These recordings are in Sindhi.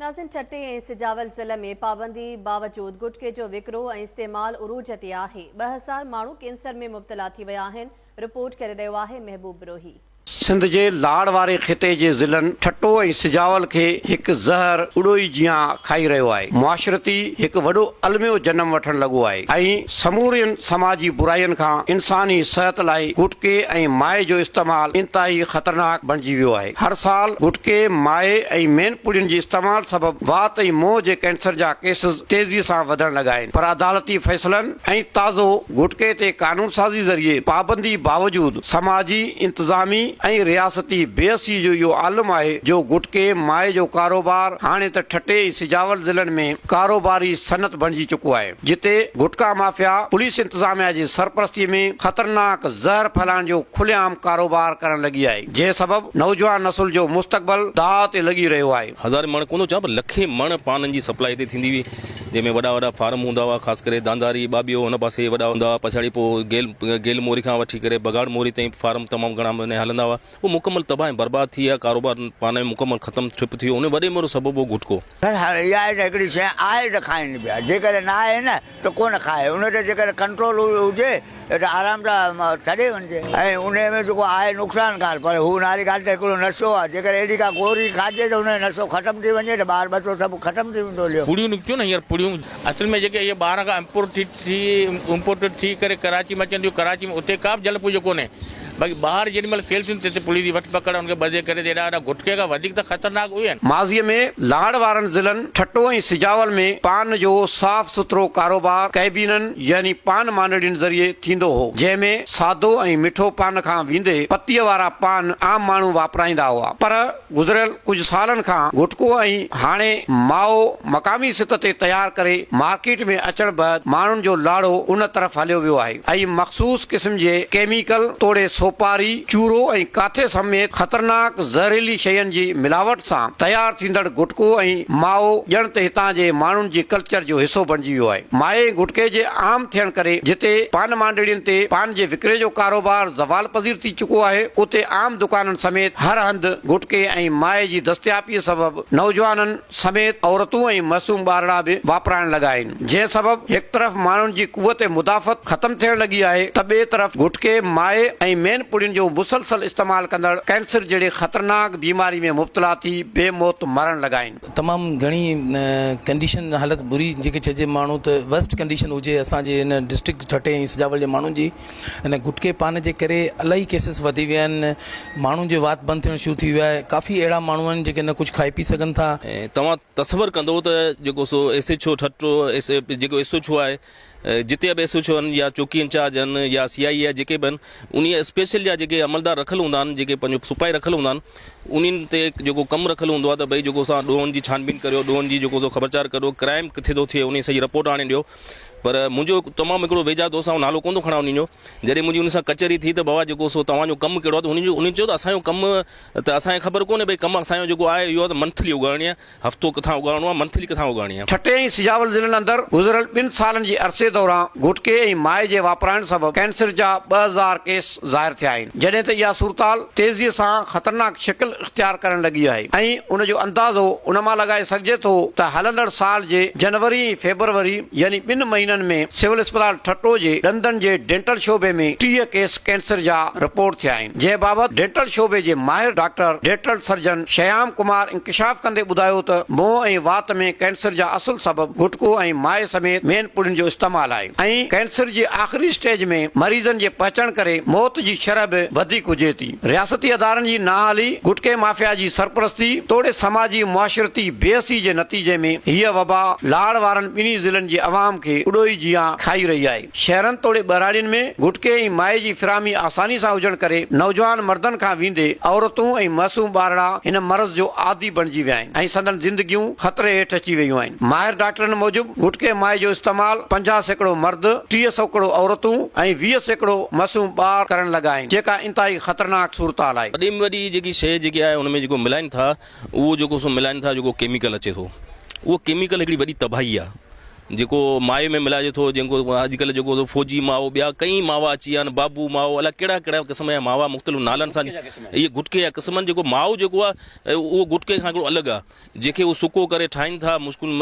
ناظرين ٺٽي ۽ سجاول ضلع ۾ پابندي باوجود گٽڪي جو وڪرو ۽ استعمال عروج تي آهي، ٻه هزار ماڻهو ڪينسر ۾ مبتلا ٿي ويا آهن، رپورٽ ڪري رهيو آهي محبوب بروهي. سنڌ جي لاڙ واري خطي جي ضلعن ٺٽو ۽ سجاول کي هڪ زهر اڏوهي جيان کائي رهيو آهي، معاشرتي هڪ وڏو الميو جنم وٺڻ لڳو آهي ۽ سمورين سماجي برائين کان انساني صحت لاء گٽڪي ۽ مائي جو استعمال انتهائي خطرناڪ بڻجي ويو آهي. هر سال گٽڪي، مائي ۽ مين پوڙين جي استعمال سبب وات ۽ منهن جي ڪينسر جا ڪيسز تيزي سان وڌڻ لڳا آهن پر عدالتي فيصلن ۽ تازو گٽڪي تي قانونسازي ذريعي پابندي باوجود سماجي، انتظامي ۽ رياستي بيحسي جو اهو عالم آهي جو گٽڪي، مائي جو ڪاروبار هاڻي ته ٺٽي ۽ سجاول ضلعن ۾ ڪاروباري صنعت بڻجي چڪو آهي. جتي گٽڪا مافيا پوليس انتظاميا جي سرپرستي ۾ خطرناڪ زهر ڦهلائڻ جو کلي عام ڪاروبار ڪرڻ لڳي آهي جنهن سبب نوجوان نسل جو مستقبل داء تي لڳي رهيو آهي. هزارين مڻ ڪونه ٿو چوان پر لکين مڻ پانن جي سپلاء هتي ٿيندي هئي جنهن ۾ وڏا وڏا فارم هوندا هئا خاص ڪري دانداري ٻاٻيو ان پاسي وڏا هوندا هئا پڇاڙي پوء گيل گيل موري کان وٺي ڪري بگهاڙ موري تائين فارم تمام گهڻا هلندا هئا. هو مڪمل تباهه ۽ برباد ٿي ويا. ڪاروبار پاڻ ئي مڪمل ختم ٺپ ٿي ويو. ان وڏي ميڙ سبب هو گهٽڪو. پر هاڻ اها ئي ته هڪڙي شيء آهي ته کائين پيا. جيڪڏهن نه آهي نه ته ڪونه کائي. ان تي جيڪڏهن ڪنٽرول هجي ته آرام سان ڇڏي وڃجي. ۽ انهيء ۾ جيڪو آهي نقصانڪار. پر هو ناري ڳالهه ته هڪڙو نشو آهي. جيڪڏهن اهڙي ڪا گوري کائجي ته انهيء نشو ختم ٿي وڃي ته ٻار ٻچو سڀ ختم ٿي ويندو. ليو. پڙيون نڪتيون نه هينئر پڙيون. اصل ۾ جيڪي اهي ٻاهران کان امپورٽ ٿي ٿي امپورٽيڊ ٿي ڪري ڪراچي ۾ اچن ٿيون ڪراچي ۾ اتي ڪابه جهل پوجو ڪونهي باقي ٻاهر جيڏي مهل سيل ٿيندي تيڏي پوليس جي وٺ پڪڙ ان کي ٻڌي ڪري ته ايڏا وڏا گٽڪي کان وڌيڪ ته خطرناڪ اهي آهن. ماضي ۾ لاڙ وارن ضلعن ٺٽو ۽ سجاول ۾ پان جو صاف سٿرو ڪاروبار ڪئبينن يعني پان مانڊڙين ذريعي ٿيندو هو جنهن ۾ سادو ۽ مٺو پان کان ويندي پتيء وارا پان عام ماڻهو واپرائيندا هئا پر گذريل ڪجهه سالن کان گٽڪو ۽ هاڻي مائو مقامي سطح تي تيار ڪري مارڪيٽ ۾ اچڻ بعد ماڻهن جو لاڙو ان طرف هليو ويو آهي ۽ مخصوص قسم جي ڪيميڪل توڙي سوپاري، چورو ۽ ڪاٿي سميت خطرناڪ زهريلي شين جي ملاوٽ سان تيار ٿيندڙ گٽڪو ۽ مائو ڄڻ ته هتان جي ماڻهن جي ڪلچر جو حصو بڻجي ويو آهي. مائي گٽڪي جي عام ٿيڻ ڪري جتي پان مانڊڙين تي پان جي وڪري جو ڪاروبار زوال پذير ٿي چڪو آهي، اتي عام دڪانن سميت هر هنڌ گٽڪي ۽ مائي جي دستياپي سبب نوجوانن سميت عورتون ۽ معصوم ٻارڙا به واپرائڻ لڳا آهن، جنهن سبب هڪ طرف ماڻهن جي قوت مدافعت ختم ٿيڻ لڳي آهي ته ٻئي طرف گٽڪي، مائي ۽ مين پڙين جو مسلسل استعمال ڪندڙ ڪينسر جهڙي خطرناڪ بيماري ۾ مبتلا ٿي بي موت مرڻ لڳا آهن. تمام گهڻي ڪنڊيشن حالت بري جيڪي چئجي ماڻهو ته ورسٽ ڪنڊيشن هجي اسان جي هن ڊسٽرڪٽ ٺٽي ۽ سجاول جي ماڻهن جي. ان گٽڪي پان جي ڪري الاهي ڪيسز وڌي ويا آهن ماڻهن جو وات بند ٿيڻ شروع ٿي ويو آهي ڪافي اهڙا ماڻهو آهن جيڪي نه ڪجهه کائي پي سگهن ٿا ۽ توهان تصور ڪندو ته جيڪو سو S H O Thatta S جيڪو ايس ايڇ او آهي جتي به ايس ايڇ او هن يا چوڪي انچارج هن يا سي آئي اي آهي جيڪي به هن انهي اسپيشل جا جيڪي عملدار رکيل هوندا آهن جيڪي پنهنجو سپاهي رکيل هوندا آهن انهن تي جيڪو ڪم رکيل هوندو آهي ته ڀئي جيڪو سو ڏوهن جي ڇانبين ڪريو ڏوهن جي جيڪو سو خبرچار ڪريو ڪرائم ڪٿي ٿو ٿئي انهي سڄي رپورٽ آڻي ڏيو پر منهنجو تمام هڪڙو ويجها دوست آئون نالو ڪونه ٿو کڻان انهن جو جڏهن منهنجي ان سان ڪچهري ٿي ته بابا جيڪو سو توهان جو ڪم ڪهڙو آهي ته هن جو انهن چيو ته اسان جو ڪم ته اسان کي خبر ڪونهي ڀئي ڪم اسان جو جيڪو آهي اهو آهي ته منٿلي اگهاڙڻي آهي هفتو ڪٿان اگهاڙڻو آهي منٿلي ڪٿان اگهاڙڻي آهي. ٺٽي ۽ سجاول ضلعن اندر گذريل ٻن سالن جي عرصي دوران گٽڪي ۽ مائي جي واپرائڻ سبب ڪينسر جا ٻه هزار ڪيس ظاهر ٿيا آهن جڏهن ته اها صورتحال تيزي سان خطرناڪ شڪل اختيار ڪرڻ لڳي آهي ۽ ان جو اندازو ان مان لڳائي سگهجي ٿو ته هلندڙ سال جي جنوري ۽ فيبروري يعني ٻن مهينن ۾ سول اسپتال ٺٽو جي ڏندن جي ڊينٽل شعبي ۾ ٽيهه ڪيس ڪينسر جا رپورٽ ٿيا آهن جنهن بابت ڊينٽل شعبي جي ماهر doctor dental surgeon Shyam Kumar انڪشاف ڪندي ٻڌايو ته منهن ۽ وات ۾ ڪينسر جا اصل سبب گٽڪو ۽ مائي سميت مين پڙين جو استعمال آهي ۽ ڪينسر جي آخري اسٽيج ۾ مريضن جي پهچڻ ڪري موت جي شرح به وڌيڪ هجي ٿي. رياستي ادارن جي نااهلي، گٽڪي مافيا جي سرپرستي توڙي سماجي معاشرتي بي حسي جي نتيجي ۾ هيء وبا لاڙ وارن ٻنهي ضلعن جي عوام کي اڏوهي جيان کائي رهي آهي. شهرن توڙي ٻهراڙين ۾ گٽڪي ۽ مائي جي فراهمي آساني سان هجڻ ڪري نوجوان مردن کان ويندي عورتون ۽ معصوم ٻارڙا هن مرض جو عادي بڻجي ويا آهن ۽ سندن زندگيون خطري هيٺ اچي ويون آهن. ماهر ڊاڪٽرن موجب، ووڊڪي مائي جو استعمال پنجاهه سيڪڙو مرد، ٽيهه سوڪڙو عورتون ۽ ويهه سيڪڙو معصوم ٻار ڪرڻ لڳا آهن، جيڪا انتهائي خطرناڪ صورتحال آهي. وڏي ۾ وڏي جيڪي شيء جيڪي آهي ان ۾ جيڪو ملائن ٿا اهو جيڪو سو ملائن ٿا جيڪو ڪيميڪل اچي ٿو اهو ڪيميڪل هڪڙي وڏي تباهي آهي جيڪو مائي ۾ ملائجي ٿو جيڪو اڄ ڪلهه جيڪو سو فوجي ماء ٻيا ڪئين ماوا اچي ويا آهن بابو ماء الاء ڪهڙا ڪهڙا قسم جا ماوا مختلف نالن سان اهي گٽڪي جا قسم آهن جيڪو ماء جيڪو آهي اهو گٽڪي کان هڪڙو الڳ آهي جنهن کي هو سڪو ڪري ٺاهين ٿا، مشڪل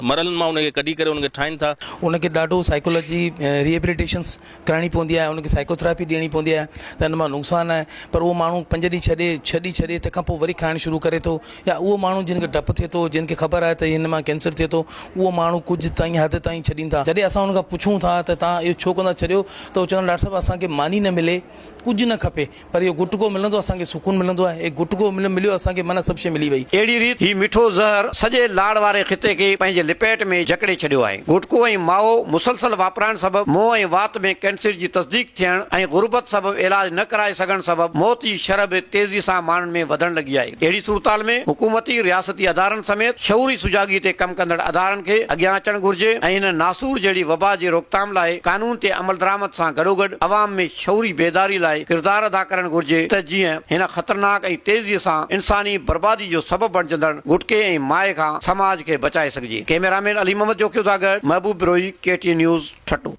مرحلن مان ان کي ڪڍي ڪري ان کي ٺاهين ٿا. ان کي ڏاڍو سائيڪالاجي ريهيبليٽيشنس ڪرائڻي پوندي آهي، ان کي سائيڪوٿراپي ڏيڻي پوندي آهي ته ان مان نقصان آهي پر اهو ماڻهو پنج ڏينهن ڇهه ڏينهن ڇڏي ڇڏي تنهن کانپوء وري کائڻ شروع ڪري ٿو يا اهو ماڻهو جن کي ڊپ ٿئي ٿو جن کي خبر آهي ته هن مان ڪينسر ٿئي ٿو اهو ماڻهو ڪجهه تائين حد تائين ڇڏين ٿا جڏهن اسان ان کان پڇون ٿا ته توهان اهو ڇو ڪون ٿا ڇڏيو ته هو چوندا آهن ڊاڪٽر صاحب اسان کي ماني نه ملي ڪجهه نه کپي پر اهو گٽڪو ملندو اسان کي سڪون ملندو آهي. هي گٽڪو مليو اسان کي معنيٰ سڀ شيء ملي وئي. اهڙي ريت هي مٺو زهر سڄي لاڙ واري خطي کي پنهنجي لپيٽ ۾ جڪڙي ڇڏيو آهي. گٽڪو ۽ مائو مسلسل واپرائڻ سبب منهن ۽ وات ۾ ڪينسر جي تصديق ٿيڻ ۽ غربت سبب علاج نه ڪرائي سگهڻ سبب موت جي شرح به تيزي سان ماڻهن ۾ وڌڻ لڳي آهي. اهڙي صورتحال ۾ حڪومتي، رياستي ادارن سميت شعوري سجاڳي تي ڪم ڪندڙ ادارن کي اڳيان اچڻ گهرجي ۽ هن ناسور جهڙي وبا جي روڪٿام لاء قانون تي عملدرآمد سان گڏوگڏ عوام ۾ شعوري بيداري لاء ڪردار ادا ڪرڻ گهرجي ته جيئن هن خطرناڪ ۽ تيزي سان انساني بربادي جو سبب بڻجندڙ گٽڪي ۽ مائي کان سماج کي بچائي سگهجي. ڪئميرا مين علي محمد جوکيو سان گڏ Mehboob Brohi K T N news Thatta.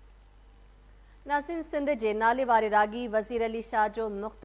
ناصرين سنڌ جي ناليواري راڳي وزير علي شاهه جو مختلف